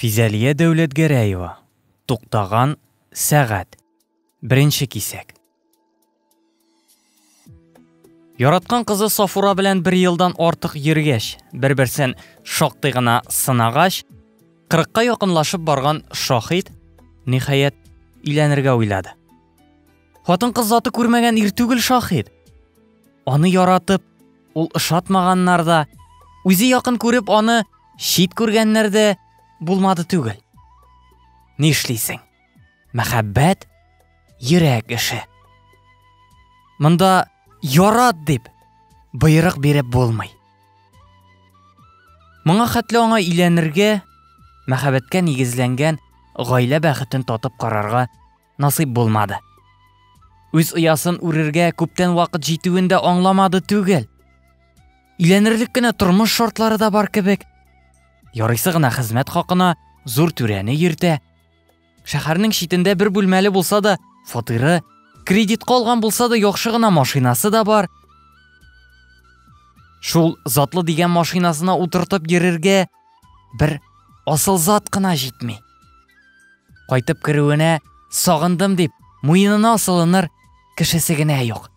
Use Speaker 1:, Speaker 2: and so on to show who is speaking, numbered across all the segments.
Speaker 1: Физәлия Дәүләтгәрәева, Туктаган сәгать, беренче кисәк. Яраткан кызы Сафура белән бер елдан артык йөргәч, бер-берсен шактый гына сынагач, кырыкка якынлашып барган Шаһит, ниһаять, өйләнергә уйлады. Хатын-кыз заты күрмәгән ир түгел шаһит. Аны яратып, ул ошатмаганнар да, үзе якын күреп аны чит күргәннәр дә булмады түгел. Ни эшлисең? Мәхәббәт йөрәк эше. Монда ярат дип боерык биреп булмый. Моңа хәтле аңа иләнергә, мәхәббәткә нигезләнгән гаилә бәхетен татып карарга насыйп булмады. Үз оясын үрергә күптән вакыт җитүен дә аңламады түгел. Иләнерлек кенә тормыш шартлары да бар кебек. Ярыйсы гына хезмәт хакына зур түрәне йөртә. Шәһәрнең читендә бер бүлмәле булса да фатиры, кредит калган булса да яхшы гына машинасы да бар. Шул затлы дигән машинасына утыртып йөрергә Бер асыл зат кына җитми. Кайтып керүенә сагындым дип, муенына асылыныр кешесе генә юк.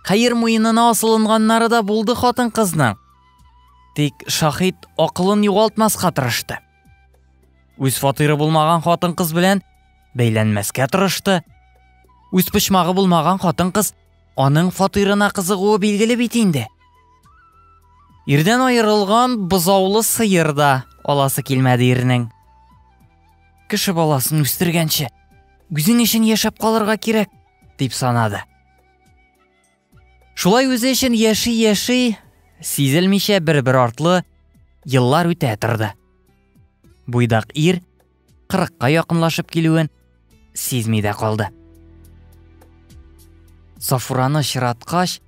Speaker 1: Хәер муенына асылынганнары да булды хатын кызның. Тик шахид акылын югалтмаска тырышты. Үз фатиры булмаган хатын кыз белән бәйләнмәскә тырышты. Үз почмагы булмаган хатын кыз Аның фатирына кызыгуы билгеле бит инде. Ирдән аерылган бозаулы сыер да аласы килмәде ирнең. Кеше баласын үстергәнче, үзең өчен яшәп калырга кирәк, дип санады. Шулай үзе өчен яши-яши, сизелмичә бер-бер артлы еллар үтә торды. Буйдак ир кырыкка якынлашып килүен сизми дә калды. Сафураны чираткач,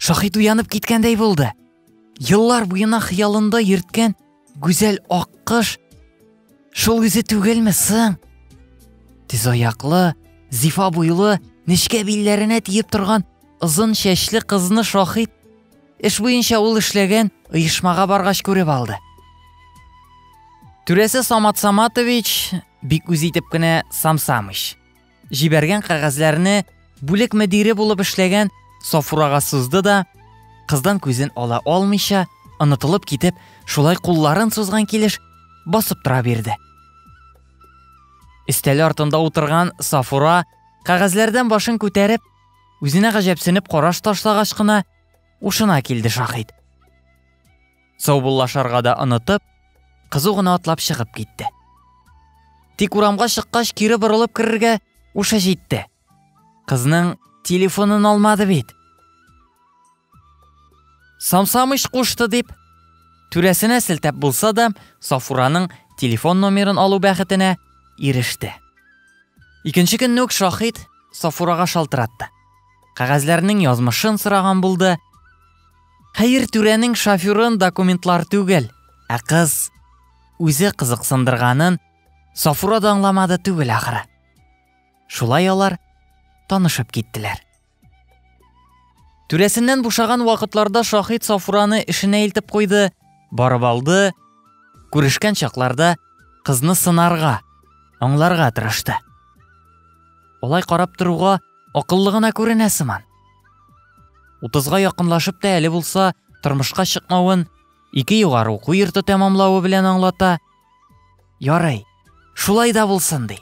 Speaker 1: Шахид уянып киткәндәй булды. Еллар буена хыялында йөрткән гүзәл аккыш шул үзе түгелме соң? Тиз аяклы, зифа буйлы, нечкә билләренә тиеп торган озын чәчле кызны Шахид Эш буенча ул эшләгән оешмага баргач күреп алды. Түрәсе Самат Саматович бик үз итеп кенә Самсамыч. Җибәргән кәгазьләрне бүлек мөдире булып эшләгән Сафурага сузды да, кыздан күзен ала алмыйча, онытылып китеп, шулай кулларын сузган килеш басып тора бирде. Истәле артында утырган Сафура кәгазьләрдән башын күтәреп, үзенә гаҗәпсенеп караш ташлагач кына Ушына килде Шахид. Саубуллашарга да онытып, кызу гына атлап чыгып китте. Тик урамга чыккач кире борылып керергә ушы җитте. Кызның телефонын алмады бит. Самсамыш кушты дип, түрәсенә сілтәп булса да, Сафураның телефон номерын алу бәхетенә иреште. Икенче көнне үк Шахид Сафурага шалтыратты. Кәгазьләрнең язмышын сораган булды. Хәер, түрәнең шоферын документлар түгел, ә кыз үзе кызыксындырганын Сафура да аңламады түгел ахыры. Шулай алар танышып киттеләр. Түрәсеннән бушаган вакытларда Шахид Сафураны эшенә илтеп куйды, барып алды. Күрешкән чакларда кызны сынарга, аңларга тырышты. Олай карап торуга Акыллы гына күренә сыман. Утызга якынлашып та әле булса тормышка чыкмавын ике югары уку йорты тәмамлавы белән аңлата. Ярый, шулай да булсын ди.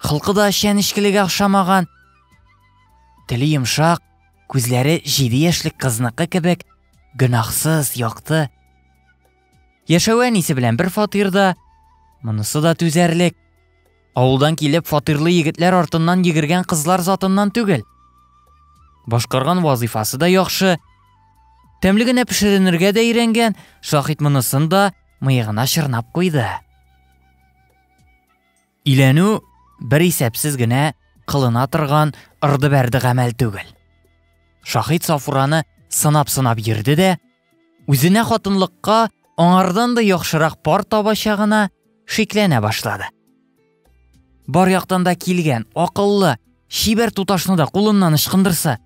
Speaker 1: Хылкы да чәнечкелегә охшамаган. Теле йомшак, күзләре җиде яшьлек кызныкы кебек, гөнаһсыз, якты. Яшәве әнисе белән бер фатирда, монысы да түзәрлек. Авылдан килеп фатирлы егетләр артыннан йөгергән кызлар затыннан түгел. Башкарган вазыйфасы да яхшы. Тәмле генә пешеренергә дә өйрәнгән, Шахит монысын да мыегына чырнап куйды. Иләнү бер исәпсез генә кылына торган ырды-бәрде гамәл түгел. Шахид Сафураны сынап-сынап йөрде дә, Үзенә хатынлыкка аңардан да яхшырак пар табачагына шикләнә башлады. Бар яктан да килгән, акыллы, чибәр туташны да кулыннан ычкындырса,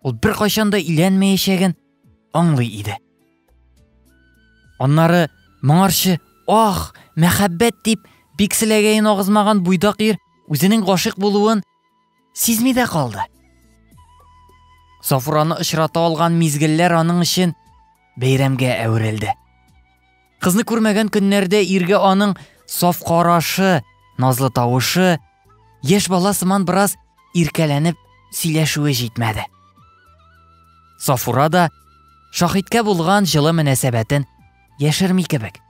Speaker 1: ул бер кайчан да иләнмәячәген аңлый иде. Аннары моңарчы ах, мәхәббәт дип бик селәгәен агызмаган буйдак ир үзенең гашыйк булуын Сизми дә калды. Сафураны очрата алган мизгелләр аның өчен бәйрәмгә әверелде. Кызны күрмәгән көннәрдә иргә аның саф карашы, назлы тавышы, яшь бала сыман бераз иркәләнеп сөйләшүе җитмәде. Сафура да шахидкә булган җылы мөнәсәбәтен яшерми кебек.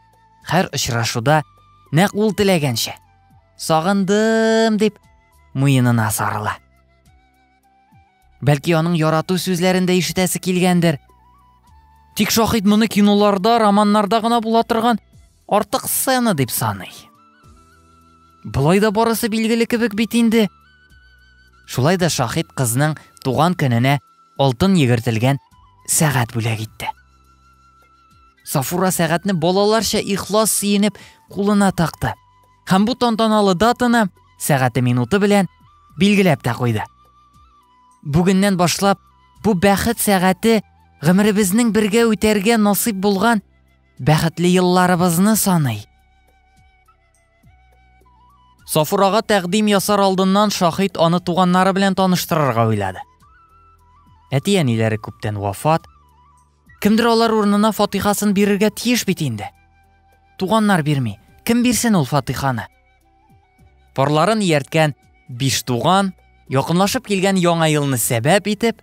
Speaker 1: Хәр очрашуда нәкъ ул теләгәнчә Сагындым, дип, муенына сарыла. Бәлки аның ярату сүзләрен дә ишетәсе килгәндер. Тик Шахид моны киноларда, романнарда гына була торган артык сцена дип саный. Болай да барысы билгеле кебек бит инде. Шулай да Шахид кызның туган көненә алтын егертелгән сәгать бүләк итте. Сафура сәгатьне балаларча ихлас сөенеп кулына такты. Һәм бу тантаналы датаны сәгате минуты белән билгеләп тә куйды. Бүгеннән башлап бу бәхет сәгате гомеребезнең бергә үтәргә насыйп булган бәхетле елларыбызны саный. Сафурага тәкъдим ясар алдыннан Шахид аны туганнары белән таныштырырга уйлады. Әти-әниләре күптән вафат, Кемдер алар урынына фатихасын бирергә тиеш бит инде. Туганнар бирми, кем бирсен ул фатиханы? Парларын иярткән биш туган, якынлашып килгән яңа елны сәбәп итеп,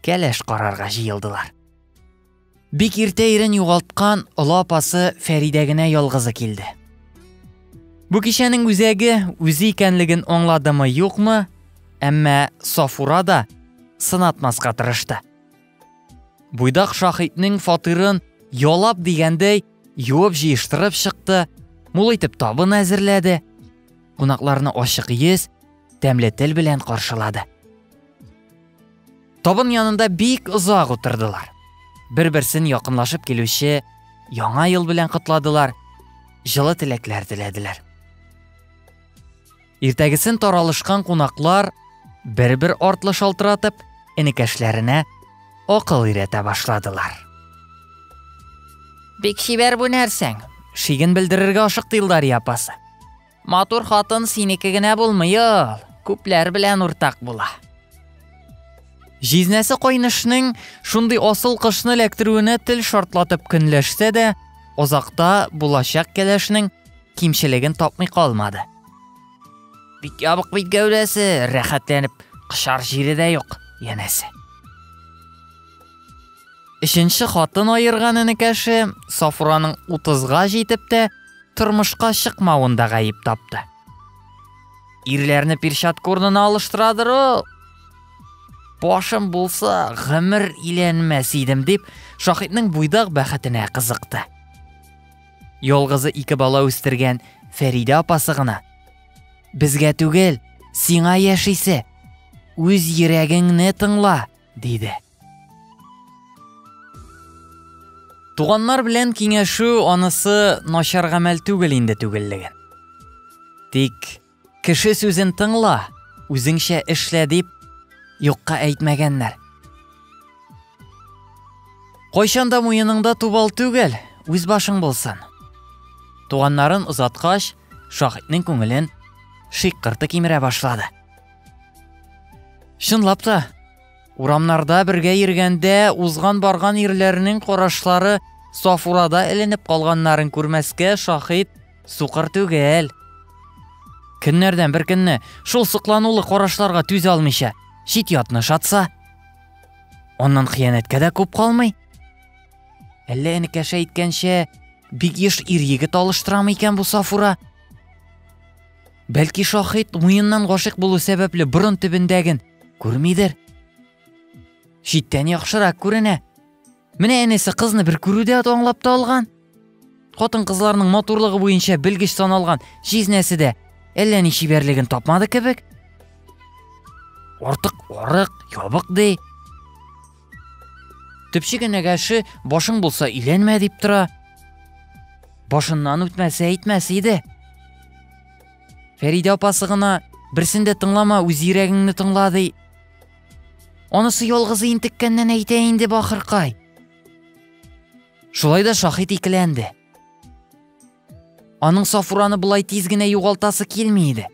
Speaker 1: кәләш карарга җыелдылар. Бик иртә ирен югалткан олы апасы Фәридә генә ялгызы килде. Бу кичәнең үзәге үзе икәнлеген аңладымы, юкмы, әмма Сафура да сынатмаска тырышты. Буйдак Шахитнең фатирын ялап дигәндәй юып җыештырып чыкты, мул итеп табын әзерләде, кунакларны ачык йөз, тәмле тел белән каршылады. Табын янында бик озак утырдылар. Бер-берсен якынлашып килүче яңа ел белән котладылар, җылы теләкләр теләделәр. Иртәгесен таралышкан кунаклар бер-бер артлы шалтыратып, энекәшләренә акыл өйрәтә башладылар. Бик чибәр бу нәрсәң, шиген белдерергә ашыкты Илдария апасы. Матур хатын синеке генә булмый ул, күпләр белән уртак була. Җизнәсе кайнышның шундый асыл кышны эләктерүенә тел шартлатып көнләшсә дә, озакта булачак кәләшнең кимчелеген тапмый калмады. Бик ябык бит гәүдәсе, рәхәтләнеп кышар җире дә юк, янәсе. Өченче хатын аерган энекәше Сафураның 30-га җитеп тә тормышка чыкмавын да гаеп тапты. Ирләрне перчатка курнына алыштырадыр ул. Башым булса, гомер иләнмәс идем дип, Шахитның буйдак бәхетенә кызыкты. Ялгызы ике бала үстергән Фәридә апасы гына. Безгә түгел, сиңа яшисе. Үз йөрәгеңне тыңла, диде. Туганнар белән киңәшү анысы начар гамәл түгел инде түгеллеген. Тик Кеше сүзен тыңла, үзеңчә эшлә дип юкка әйтмәгәннәр. Кайчанда муеныңда тубал түгел, үз башың булсын. Туганнарын озаткач, шахитнең күңелен шиккырты кимерә башлады. Чынлап та, Урамнарда бергә йөргәндә, узган-барган ирләрнең карашлары Сафурада эленеп калганнарын күрмәскә шаһит сукыр түгел. Көннәрдән бер көнне шул сокланулы карашларга түзә алмыйча, чит ятны шатса, аннан хыянәткә дә күп калмый. Әллә энекәшә әйткәнчә, бик еш ир егет алыштырамы икән бу Сафура? Бәлки шахид муеннан гашык булу сәбәпле борын төбендәген күрмидер? Читтән яхшырак күренә. Менә әнесе кызны бер күрүдә аңлап та алган. Хатын кызларның матурлыгы буенча белгеч саналган җизнәсе дә әллә ни чибәрлеген тапмады кебек. Артык арык, ябык ди. Төпче кенәгәше башың булса иләнмә дип тора. Башыннан үтмәсә әйтмәс иде. Фәридә апасы гына берсен дә тыңлама, үз йөрәгеңне тыңла ди. Анысы ялгызы интеккәннән әйтә инде бахыркай. Шулай да шахит икеләнде. Аның Сафураны болай тиз генә югалтасы килми иде.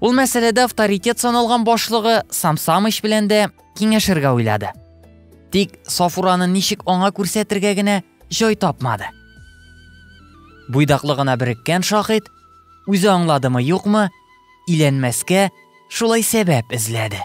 Speaker 1: Ул мәсьәләдә авторитет саналган башлыгы Самсамыч белән дә киңәшергә уйлады. Тик Сафураны ничек аңа күрсәтергә генә җай тапмады. Буйдаклы гына береккән шахид үзе аңладымы юкмы, иләнмәскә шулай сәбәп эзләде.